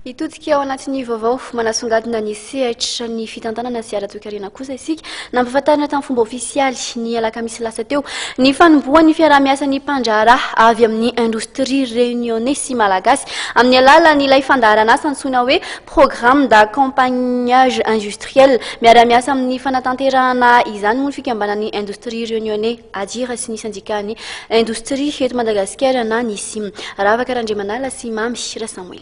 Hitodika ao anatin'ny vaovao manasongadina ny sehatra ny fitantanana sy ara-toekarena kosa isika. Nampahafantarina tamin'ny fomba ofisialy ny alakamisy lasa teo ny fanombohan'ny fiaraha-miasan'ny mpandraharaha avy amin'ny indostria Reunionnais sy Malagasy amin'ny alalan'ilay fandaharan'asa antsoina hoe Programme d'accompagnage industriel. Miara-miasa amin'ny fanatanterahana izany moa ny fikambanan'ny indostria Reunionnais, ADIR, sy ny sendikàn'ny indostria eto Madagasikara na ny sim. Ravaka Randriamanala sy Mamy Rasamoy.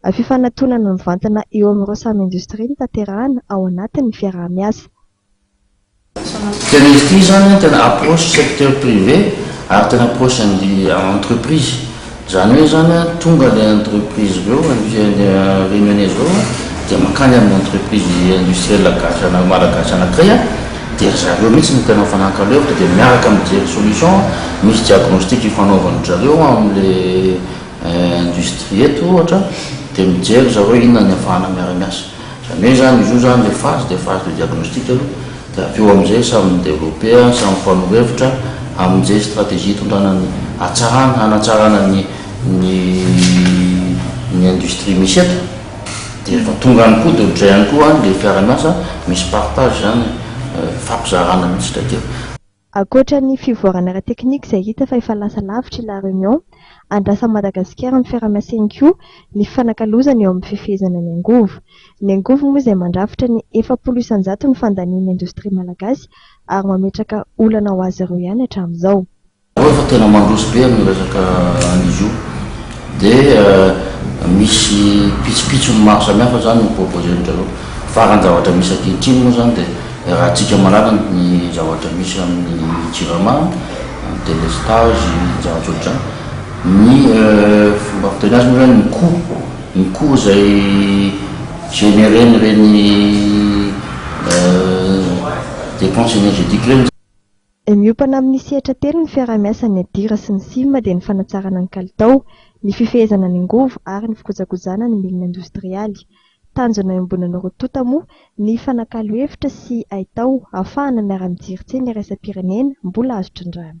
Fifanantonana mivantana eo amin'ireo samy indostria no tanterahana ao anatin'ny fiaraha-miasa. Tena izy ity izany an, tena approche secteur privé ary tena approche an'ny entreprise. Izany hoe izany an, tonga ilay entreprise avy eo, industrie Réunionnaise avy eo, dia mankany amin'ny entreprise industrielle gasy ana- malagasy anankiray an, dia ry zareo mihitsy no tena mifanakalo hevitra dia miaraka mijery solution, misy diagnostic ifanaovan-dry zareo amin'ilay. industrie eto ohatra dia mijery ry zareo inona ny afahana miara-miasa. Izany hoe izany izy io izany ilay phase dia phase de diagnostic aloha dia avy eo amin'izay samy mi-developper, samy mifanovo hevitra amin'izay stratégie hitondrana ny hatsarana, hanatsarana ny ny ny industrie misy eto. Dia rehefa tonga any koa dia ohatran'izay ihany koa any ilay mpiara-miasa, misy partage izany, mifampizarana mihitsy ilay dia. Ankoatra ny fivoarana ara-teknika izay hita fa efa lasa lavitra i La Réunion, andrasan'i Madagasikara amin'ny fiaraha-miasiny koa ny fifanakalozana eo amin'ny fifehezana ny angovo. Ny angovo moa izay mandrafitra ny efapolo isan-jato ny fandanian'ny indostria malagasy ary mametraka olana ho azy ireo ihany hatramin'izao. Ao efa tena mandroso be amin'ny resaka an'izio. Dia misy pitsopitsony maro samihafa izany no proposer-ndry zareo. Faran'ny zavatra misy ankehitriny moa izany dia raha tsika malalany ny zavatra misy amin'ny jirama, ny délestage, ny zava-tsoa ohatr'izany. Ny fomba fiteny azy moa izany ny coût, ny coût izay générer-n'ireny dépenses énergétiques ireny. Ny miompana amin'ny sehatra telo ny fiaraha-miasa ny ADIRA sy ny CIM dia ny fanatsarana ny kalitao, ny fifehezana ny angovo ary ny fikojakojana ny milina indostrialy. Tanjona iombonan'ny roa tonta moa ny fanakalo hevitra sy haitao hahafahana miara-mijery tsena iraisam-pirenena mbola azo trindrana.